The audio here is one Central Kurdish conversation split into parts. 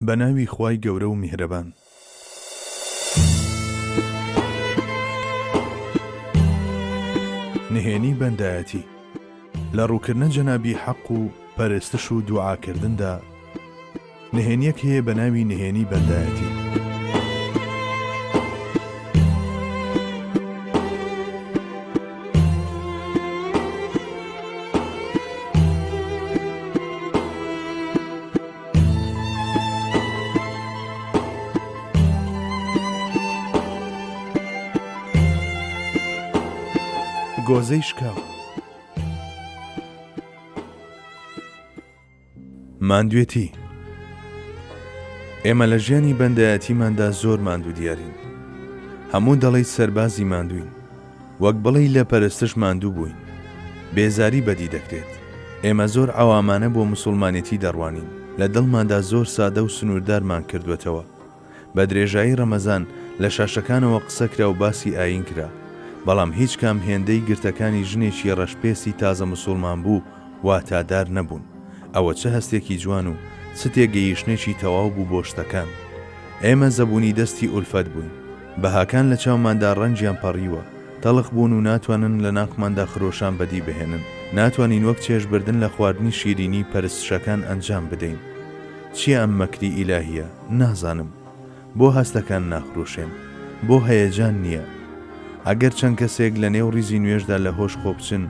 بە ناوی خوای گەورە و میهرەبان. نهێنی بەندایەتی لە ڕووکردنە جەنابی حەق و پەرستش و دوعاکردندا نهێنیەک هەیە بە ناوی نهێنی بەندایەتی ماندوێتی، ئێمە لە ژیانی بەندایەتیماندا زۆر ماندوو دیارین. هەموو دەڵێیت سەربازی ماندووین، وەک بڵێی لە پەرستش ماندوو بووین. بێزاری بەدی دەکرێت. ئێمە زۆر عەوامانە بۆ موسوڵمانێتی دەڕوانین. لە دڵماندا زۆر سادە و سنووردارمان کردووەتەوە. بە درێژایی ڕەمەزان لە شاشەکانەوە قسە کرا و باسی ئایین کرا. بەڵام هیچ کام هێندەی گرتەکانی ژنێکی ڕەشپێستی تازە موسوڵمانبوو واتادار نەبوون. ئەوە چ هەستێکی جوان و چ تێگەییشتنێکی تەواو بوو بۆ شتەکان. ئێمە زەبوونی دەستی ئولفەت بووین. بەهاکان لە چاوماندا ڕەنگیان پەڕیوە، تەڵخ بوون و ناتوانن لە ناخماندا خرۆشان بەدی بهێنن، ناتوانین وەک چێژ بردن لە خواردنی شیرینی پەرستشەکان ئەنجام بدەین. چییە ئەم مەکری ئیلاهییە؟ نازانم. بۆ هەستەکان ناخروشێن؟ بۆ هەیەجان نییە؟ ئەگەر چەند کەسێک لە نێو ڕیزی نوێژدا لە هۆش خۆ بچن،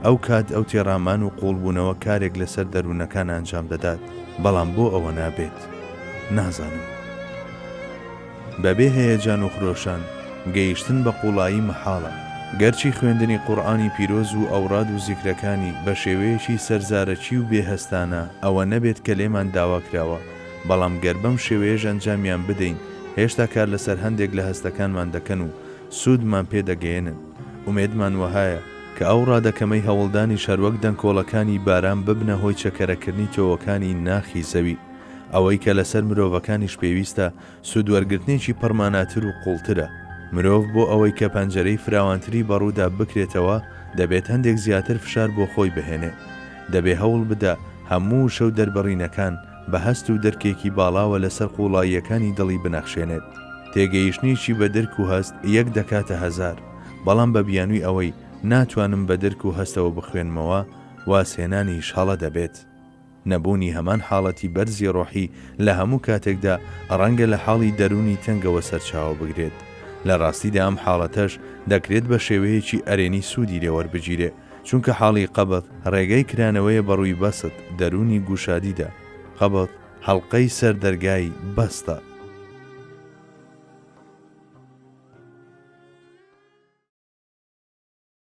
ئەو کات ئەو تێڕامان و قووڵبوونەوە کارێک لەسەر دەروونەکان ئەنجام دەدات، بەڵام بۆ ئەوە نابێت؟ نازانم. بەبێ هەیەجان و خرۆشان گەیشتن بە قووڵایی مەحاڵە. گەرچی خوێندنی قورئانی پیرۆز و ئەوراد و زیکرەکانی بە شێوەیەکی سەرزارەکی و بێ هەستانە ئەوە نەبێت کە لێمان داوا کراوە، بەڵام گەر بەم شێوەیەش ئەنجامیان بدەین هێشتا کار لەسەر هەندێک لە هەستەکانمان دەکەن و سوودمان پێ دەگەیەنن. ئومێدمان وەهایە کە ئەو ڕادە کەمەی هەوڵدانیش هەروەک دەنکۆڵەکانی باران ببنە هۆی چەکەرەکردنی تۆوەکانی ناخی زەوی. ئەوەی کە لەسەر مرۆڤەکانیش پێویستە، سوودوەرگرتنێکی پڕماناتر و قووڵترە. مرۆڤ بۆ ئەوەی کە پەنجەرەی فراوانتری بەڕوودا بکرێتەوە، دەبێت هەندێک زیاتر فشار بۆ خۆی بهێنێ. دەبێ هەوڵ بدا هەموو وشە و دەربڕینەکان بە هەست و درکێکی باڵاوە لەسەر قووڵاییەکانی دڵی بنەخشێنێت. تێگەیشتنێکی بە درک و هەست یەک دەکاتە هەزار، بەڵام بە بیانووی ئەوەی ناتوانم بە درک و هەستەوە بخوێنمەوە، وازهێنانیش هەڵە دەبێت. نەبوونی هەمان حاڵەتی بەرزی ڕۆحی لە هەموو کاتێکدا ڕەنگە لە حاڵی دەروونی تەنگەوە سەرچاوە بگرێت، لە ڕاستیدا ئەم حاڵەتەش دەکرێت بە شێوەیەکی ئەرێنی سوودی لێ وەربگیرێ، چونکە حاڵی قەبض ڕێگەی کرانەوەیە بە ڕووی بەست، دەروونی گوشادیدا، قەبض، حەڵقەی سەر دەرگای بەستە.